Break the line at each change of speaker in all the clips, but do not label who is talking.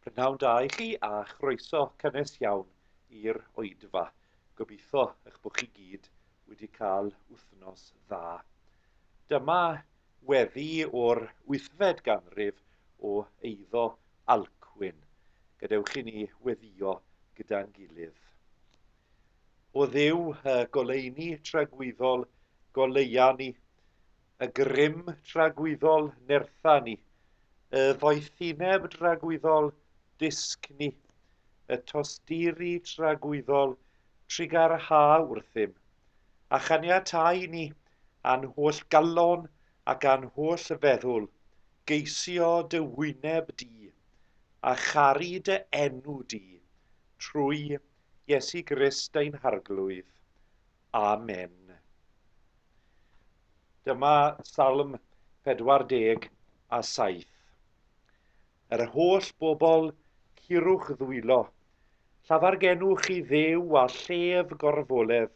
Prynawn da i chi a chroeso cynnes iawn i'r oedfa. Gobeithio eich bod chi gyd wedi cael wythnos dda. Dyma weddi o'r wythfed ganrif o eiddo Alcwyn. Gadewch i ni weddio gyda'n gilydd. O Dduw, y goleuni tragwyddol, goleuan ni, Y grym dragwyddol nertha ni, y ddoethineb dragwyddol dysg ni, y tosturi tragwyddol trugarhaau wrthym, a chaniatáu ni, a'n holl galon ac a'n holl feddwl, geisio dy wyneb di, a charu dy enw di, trwy Iesu Grist ein Harglwydd. Amen. Dyma Salm 47. Yr holl bobl, curwch ddwylo, llafargenwch i ddew a llef gorfoledd.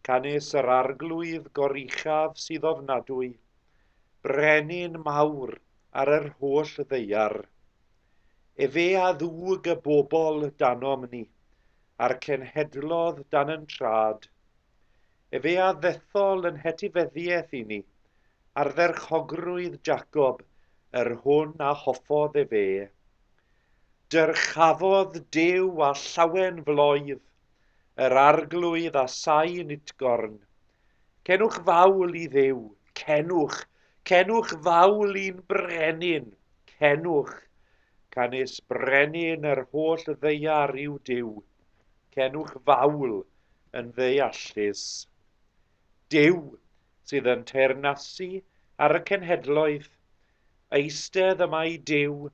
Canys yr arglwydd goruchaf sydd ofnadwy, brenin mawr ar yr holl ddeiar. Efe a ddwg y bobl danom ni, a'r cenhedlodd dan yn trad. Efe a ddethol yn hetifeddiaeth i ni, ardderchogrwydd Jacob, yr hwn a hoffodd efe. Dyrchafodd Duw a llawen floedd, yr arglwydd a sain utgorn. Cenwch fawl i Dduw, cenwch, cenwch fawl i'n brenin, cenwch. Canys brenin yr holl ddeiar yw Duw. Cenwch fawl yn ddeallus. Duw sydd yn teyrnasu ar y cenhedloedd, eistedd y mae Duw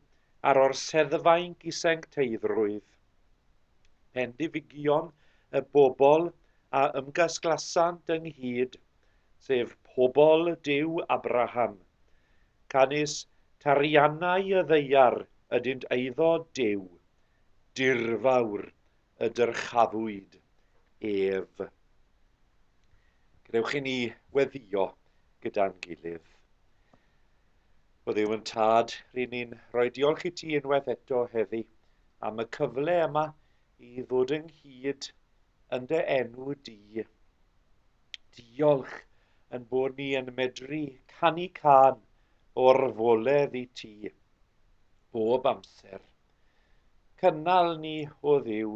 ar orseddfainc i sencteiddrwydd. Pendifigion y bobl a ymgasglasant ynghyd, sef pobl Duw Abraham. Canys tariannau y ddeiar ydynt eiddo Duw, dirfawr y dyrchafwyd ef. Gwnewch i ni weddio gyda'n gilydd. O ddiw yn tad, rydyn ni'n rhoi diolch i ti unwaith eto heddi am y cyfle yma i ddod ynghyd yn dy enw di. Diolch yn bod ni yn medru canu can o'r foledd i ti bob amser. Cynnal ni, o Dduw,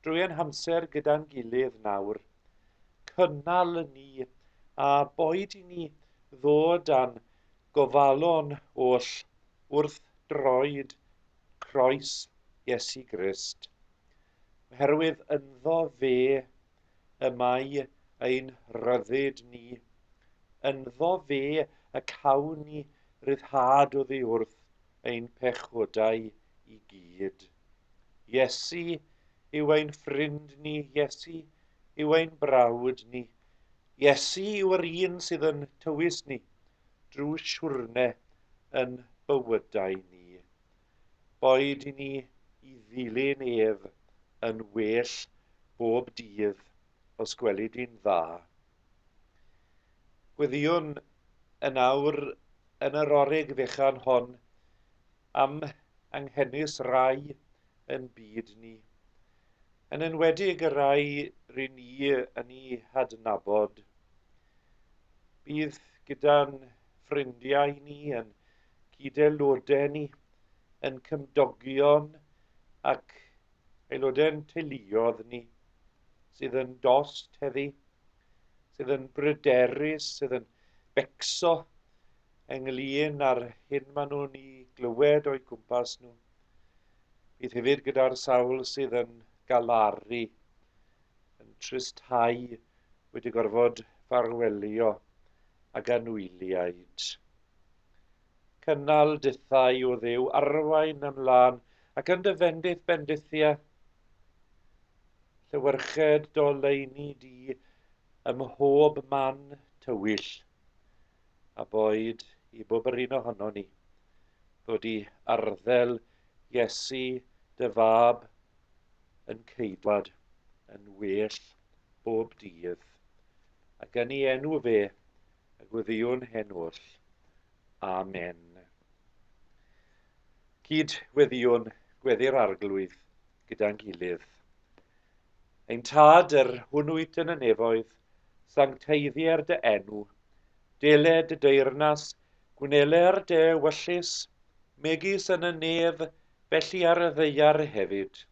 drwy ein hamser gyda'n gilydd nawr. Cynnal ni, a boed i ni ddod â'n gofalon oll wrth droed croes Iesu Grist, oherwydd ynddo fe y mae ein rhyddid ni, ynddo fe y cawn ni ryddhad oddi wrth ein pechodau i gyd. Iesu yw ein ffrind ni, Iesu yw ein brawd ni. Iesu yw'r un sydd yn tywys ni drwy siwrne yn bywydau ni. Boed i ni i ddilyn ef yn well bob dydd os gweli di'n dda. Gweddïwn yn awr yn yr orig fechan hon am anghenus rai yn byd ni, yn enwedig y rhai ry ni yn eu hadnabod. Bydd gyda'n ffrindiau ni, yn cyd-aelodau ni, yn cymdogion ac aelodau'n teuluoedd ni, sydd yn dost heddi, sydd yn bryderus, sydd yn becso ynglyn â'r hyn maen nhw'n ei glywed o'i gwmpas nhw. Bydd hefyd gyda'r sawl sydd yn galaru, yn tristhau wedi gorfod farwelio ag anwyliaid. Cynnal dithau, O Dduw, arwain yn lân, ac yn dy fendith bendithia. Llewyrched doleini di ym mhob man tywyll, a boed i bob yr un ohono ni, ddod i arddel Iesu dy fab yn ceidwad yn well bob dydd, ac yn ei enw fe Y gweddïwn hen oll. Amen. Cyd weddiwn gweddi'r arglwydd gyda'n gilydd. Ein tad yr hwnnwyd yn y nefoedd, sancteiddier dy enw, dele dy deyrnas, gwneler dy wyllus, megis yn y nef, felly ar y ddeiar hefyd.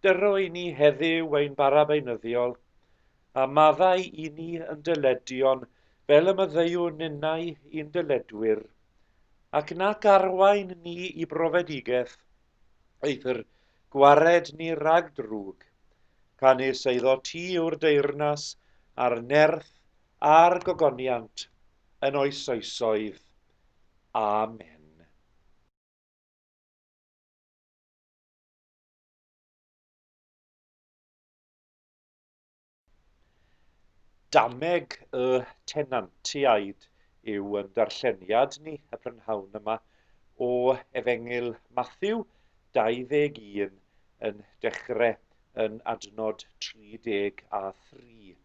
Dyro i ni heddiw ein barabeinyddiol, a maddau i ni yn dyledion fel y maddeu ninnau i'n dyledwyr, ac nac arwain ni i brofedigaeth, eithr gwared ni rhag drwg, canys eiddo ti yw'r deyrnas, a'r nerth, a'r gogoniant, yn oes oesoedd. Amen. Dameg y tenantiaid yw ein darlleniad ni y prynhawn yma o Efengyl Mathew 21 yn dechrau yn adnod 33,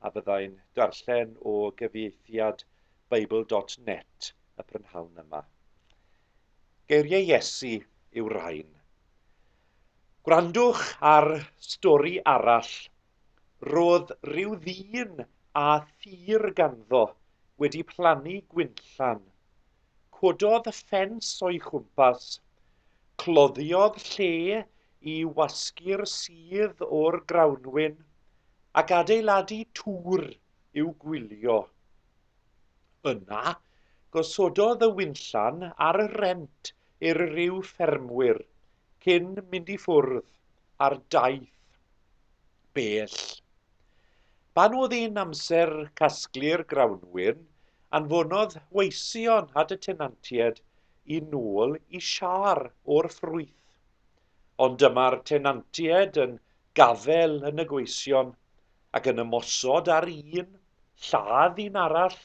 a fyddai'n darllen o gyfieithiad Bible dot net y prynhawn yma. Geiriau Iesu yw'r rhain. Gwrandwch ar stori arall. Roedd rhyw ddyn â thir ganddo wedi plannu gwinllan. Cododd ffens o'i chwmpas. Cloddiodd lle i wasgu'r sudd o'r grawnwin ac adeiladu tŵr i'w gwylio. Yna, gosododd y winllan ar y rent i'r rhyw ffermwyr cyn mynd i ffwrdd ar daith bell. Pan oedd hi'n amser casglu'r grawnwin, anfonodd weision at y tenantied i nôl i siar o'r ffrwyth. Ond dyma'r tenantied yn gafael yn y gweision ac yn ymosod ar un, lladd un arall,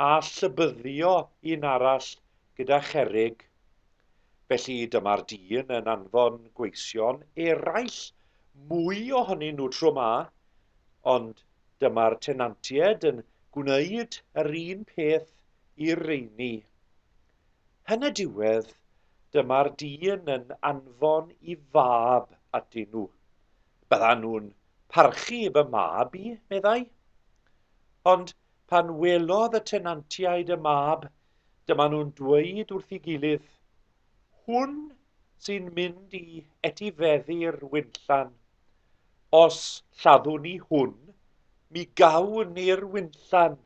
a llybyddio un arall gyda cherrig. Felly dyma'r dyn yn anfon gweision eraill mwy ohonyn nhw tro ma, ond dyma'r tenantiaid yn gwneud yr un peth i'r rheini. Yn y diwedd, dyma'r dyn yn anfon i fab atyn nhw. Byddan nhw'n parchu fy mab i, meddai. Ond pan welodd y tenantiaid y mab, dyma nhw'n dweud wrth ei gilydd, Hwn sy'n mynd i etifeddu'r winllan. Os lladdwn ni hwn, mi gawn ni'r winllan.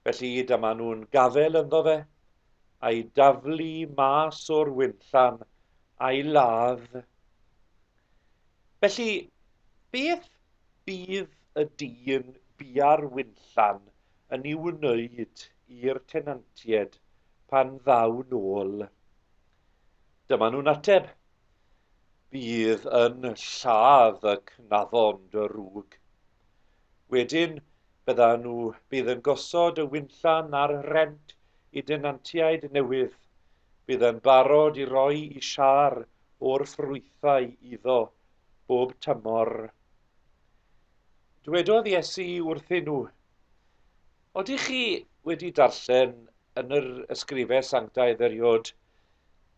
Felly dyma nhw'n gafel ynddo fe, a'i daflu mas o'r winllan, a'i ladd. Felly, beth fydd y dyn buar wynllan yn ei wneud i'r tenantiaid pan ddaw'n ôl? Dyma nhw'n ateb, Bydd yn lladd y cnafon dy rug. Wedyn, bydda nhw bydd yn gosod y wynllan ar rent i denantiaid newydd, bydd yn barod i roi i siâr o'r ffrwythau iddo bob tymor. Dwedodd Iesu wrthyn nhw, Oeddech chi wedi darllen yn yr ysgrifau sanctaidd eriod,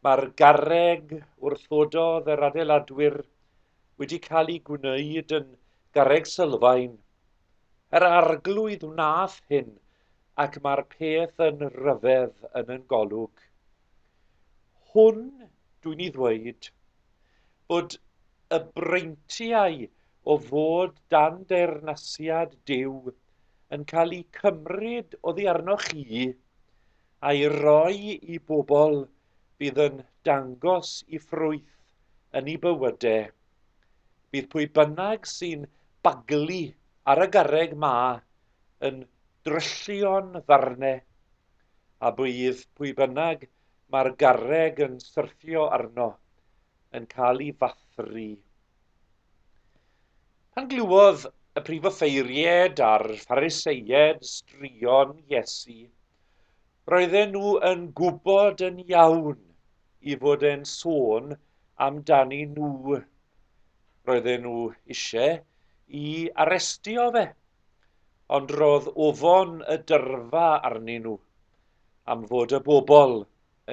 mae'r garreg wrthododd yr adeiladwyr wedi cael ei gwneud yn garreg sylfaen. Yr arglwydd wnaeth hyn ac mae'r peth yn ryfedd yn yn golwg. Hwn, dwi'n i ddweud, bod y breintiau o fod dan deyrnasiad Duw yn cael eu cymryd oddi arnoch chi a'i roi i bobl fydd yn dangos i ffrwyth yn ei bywydau. Bydd pwy bynnag sy'n baglu ar y garreg ma yn dryllion ddarne, a bydd pwy bynnag mae'r garreg yn syrthio arno yn cael ei fathru. Pan glywodd y prif offeiried a'r Phariseied straeon Iesu, roedden nhw yn gwybod yn iawn i fod e'n sôn amdani nhw. Roedden nhw eisiau i arestio fe. Ond roedd ofon y dyrfa arnyn nhw am fod y bobl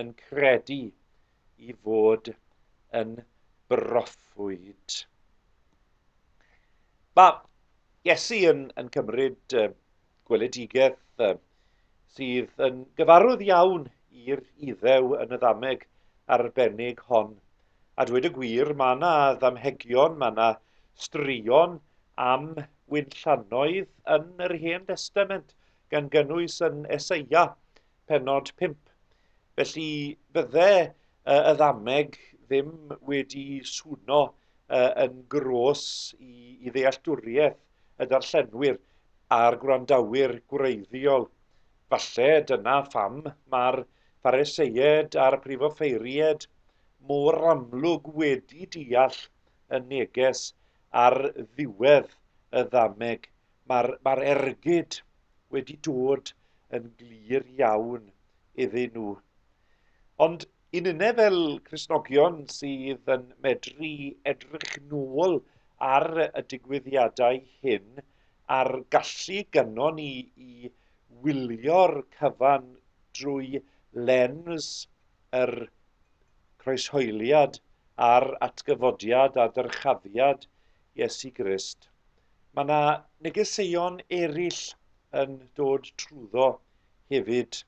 yn credu i fod yn broffwyd. Mae Iesu yn, yn cymryd uh, gweledigaeth uh, sydd yn gyfarwydd iawn i'r iddew yn y ddameg arbennig hon. A dweud y gwir, mae yna ddamhegion, mae yna Straeon am wynllannoedd yn yr Hen Destament, gan gynnwys yn Eseia, pennod 5. Felly, bydde y ddameg ddim wedi swno yn gros i ddealltwriaeth y darllenwyr a'r gwrandawyr gwreiddiol. Falle dyna pham mae'r Phariseiaid a'r Prifofeiriaid mor amlwg wedi deall y neges ar ddiwedd y ddameg. Mae'r ma ergyd wedi dod yn glir iawn iddyn nhw. Ond i nynne fel Cresnogion sydd yn medru edrych nôl ar y digwyddiadau hyn a'r gallu gynnon ni i wylio'r cyfan drwy lens yr croeshoeliad a'r atgyfodiad a dyrchafiad Iesu Grist, mae 'na negeseuon eraill yn dod trwyddo hefyd.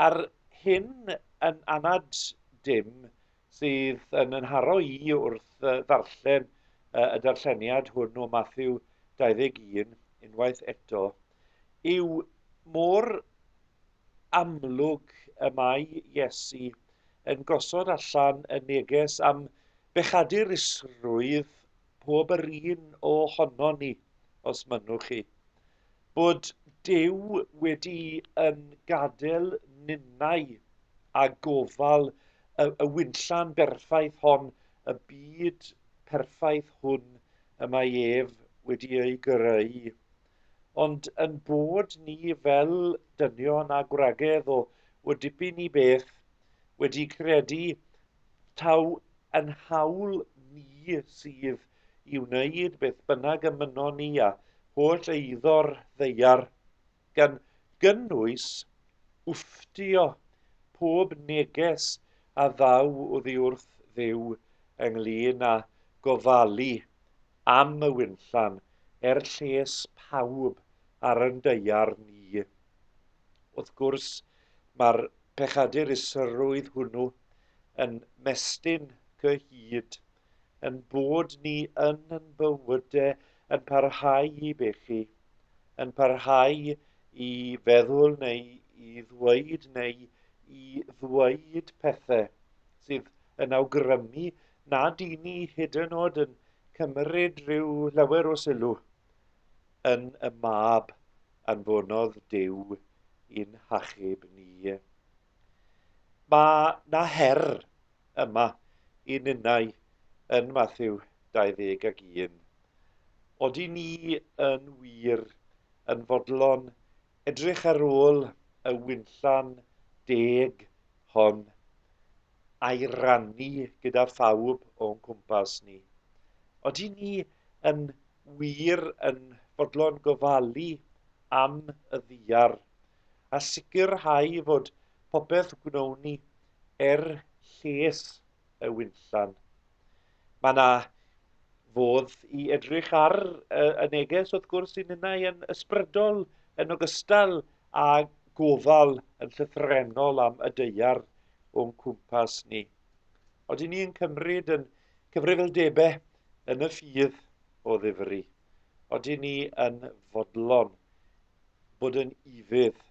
A'r hyn yn anad dim sydd yn ynharo i wrth ddarllen y darlleniad hwn o Matthew 21 unwaith eto yw mor amlwg y mae Iesu yn gosod allan y neges am bechadurusrwydd pob yr un o hono ni, os mynnwch chi, bod Duw wedi yn gadael ninnau a gofal y, y wynllan berffaith hon, y byd perffaith hwn y mae ef wedi ei greu Ond yn bod ni fel dynion a gwragedd o o dipyn i beth wedi credu taw yn hawl ni sydd i wneud beth bynnag y mynnon ni a holl eiddo'r ddaear, gan gynnwys wfftio pob neges a ddaw oddi wrth Dduw ynglŷn â gofalu am y winllan er lles pawb ar yn daear ni. Wrth gwrs, mae'r pechadur isrwydd hwnnw yn mestyn cyhyd yn bod ni yn yn bywyde yn parhau i bechu, yn parhau i feddwl neu i ddweud neu i ddweud pethau sydd yn awgrymu nad i ni hyd yn oed yn cymryd rhyw lawer o sylw yn y mab anfonodd Dyw i'n hachub ni. Mae na her yma i ninnau yn Matthew 21. Oeddi ni yn wir yn fodlon edrych ar ôl y winllan deg hon a'i rannu gyda phawb o'n cwmpas ni. Oedden ni yn wir yn fodlon gofalu am y ddiar a sicrhau fod popeth gwnawn ni er lles y winllan. Mae yna fodd i edrych ar y neges wrth gwrs sy'n ninnau yn ysbrydol yn ogystal a gofal yn llythrennol am y deiar o'n cwmpas ni. Oedden ni yn cymryd yn cyfrifoldebau yn y ffydd o ddifri. Oedden ni yn fodlon bod yn ifydd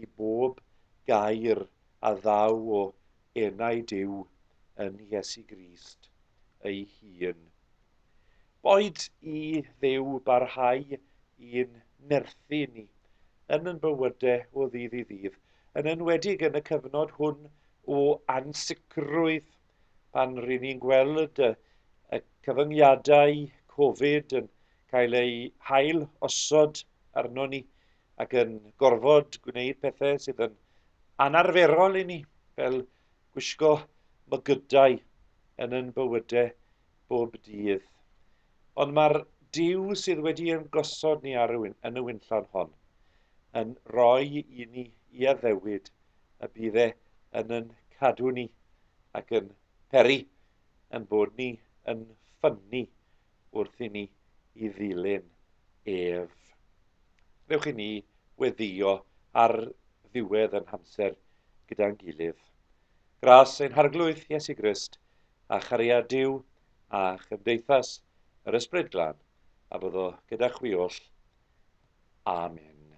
i bob gair a ddaw o enau Duw yn Iesu Grist ei hun. Boed i Dduw barhau i'n nerthu ni yn yn bywyde o ddydd i ddydd, yn enwedig yn y cyfnod hwn o ansicrwydd pan ry'n ni'n gweld y y cyfyngiadau Covid yn cael eu hail osod arnon ni ac yn gorfod gwneud pethau sydd yn anarferol i ni, fel gwisgo mygydau yn yn bywyde bob dydd. Ond mae'r Duw sydd wedi ein gosod ni ar y, yn y winllawn hon yn rhoi i ni i addewid y bydd e yn yn cadw ni ac yn peri yn bod ni yn ffynnu wrth i ni i ddilyn ef. Rewch i ni weddio ar ddiwedd yn hamser gyda'n gilydd. Gras ein harglwydd Iesu Grist, a chariad Duw a chymdeithas yr Ysbryd Glân, a bod o gyda chwi oll. Amen.